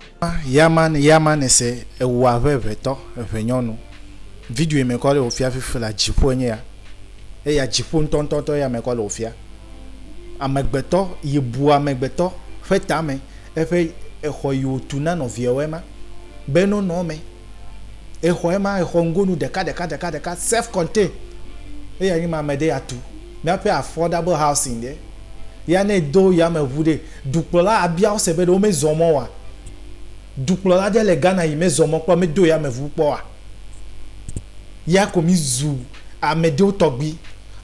Ŋkɔa Yaman Yamane se ewu abe eŋetɔ, eŋenyɔnu. Video yi me kɔ le wòfia fifi la dziƒo enye ya. Eya dziƒo ŋutɔŋutɔŋutɔ ya me kɔ le wòfia. Amegbetɔ yi bu amegbetɔ ƒe tame. Eƒe exɔ yi wòtu na nɔviawo ema be no nɔ eme. Exɔ ema, exɔ ŋgonu ɖeka ɖeka ɖeka ɖeka self contain eya nyi ma mede ya tu miaƒe affordable housing ɖe ya ne do yameʋu ɖe dukplɔla abia wo se be ɖe wo me zɔ mɔ wa? Dukplɔla ɖe le Ghana yi me zɔ mɔ kpɔ me do yameʋu kpɔ wa? Ya ko mi zu ameɖewo tɔgbi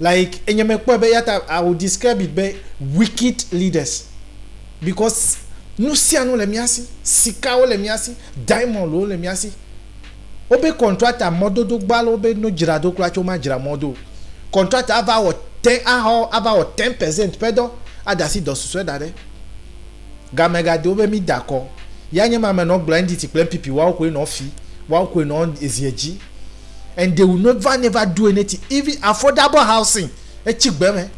like enye me kpɔe be yata I will describe it be wicked leaders. Because nusianu le mía si, sikawo le mía si, diamondwo le mía si. Wobe contractor mɔdodo gbɔ ale wobe no dzra do kura tse woma dzra mɔ do o. Contractor ava wɔ te axɔ ava wɔ ten percent ƒe dɔ ada asi dɔ susɔe da ɖe game ga do be mi da kɔ. Ya nye ma me nɔ gblɔ NDT kple NPP woawo koe nɔ fi woawo koe nɔ eziɛ dzi and they will never never do anything even affordable housing etsi gbe me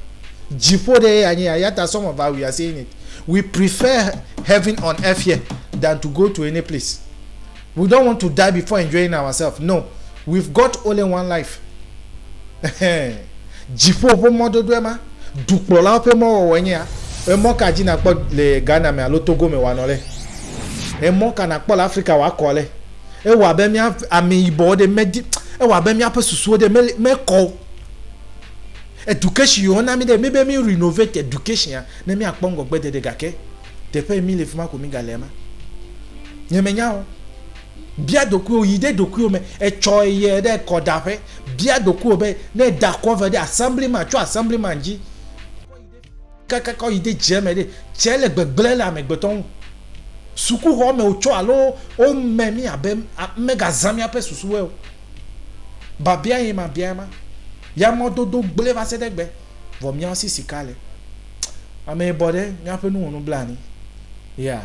dziƒo ɖe ya nye ya ta some of us we are saying it we prefer heaven on earth here than to go to any place we don't want to die before enjoying ourselves no we've got only one life dziƒo ƒe mɔdodo ema dukplɔlawo ƒe mɔwɔwɔ nye ya emɔ ka dzi nakpɔ le Ghana me alo Togo me wanɔ le emɔ ka nakpɔ le Afrika wakɔ le ewa be mia ameyibɔ ɖe medi ewa be mia ƒe susuwo ɖe mekɔ Education yio na mi ɖe mi be mi renovate education ya ne mi akpɔ ŋgɔgbe dede gake teƒe yi mi le fima ko mi ga le ma. Nye me nya o. Bia dokui o yi ɖe dokui o me etsɔ ye ɖe kɔ da ƒe bia dokui o be ne da kɔ ve ɖe assembly ma tso assembly ma dzi. Kakaka yi de dze me ɖe, dze le gbegblẽ le amegbetɔ ŋu. Sukuxɔ me wotsɔ alo wome mí abe megazã míaƒe susuwo o. Biabia ye mabia ema. Ya mɔdodo gblẽ va se ɖe egbe, vɔ míawo si sika le. Ame bɔ ɖe, míaƒe nu wɔ nublanui. Yeah.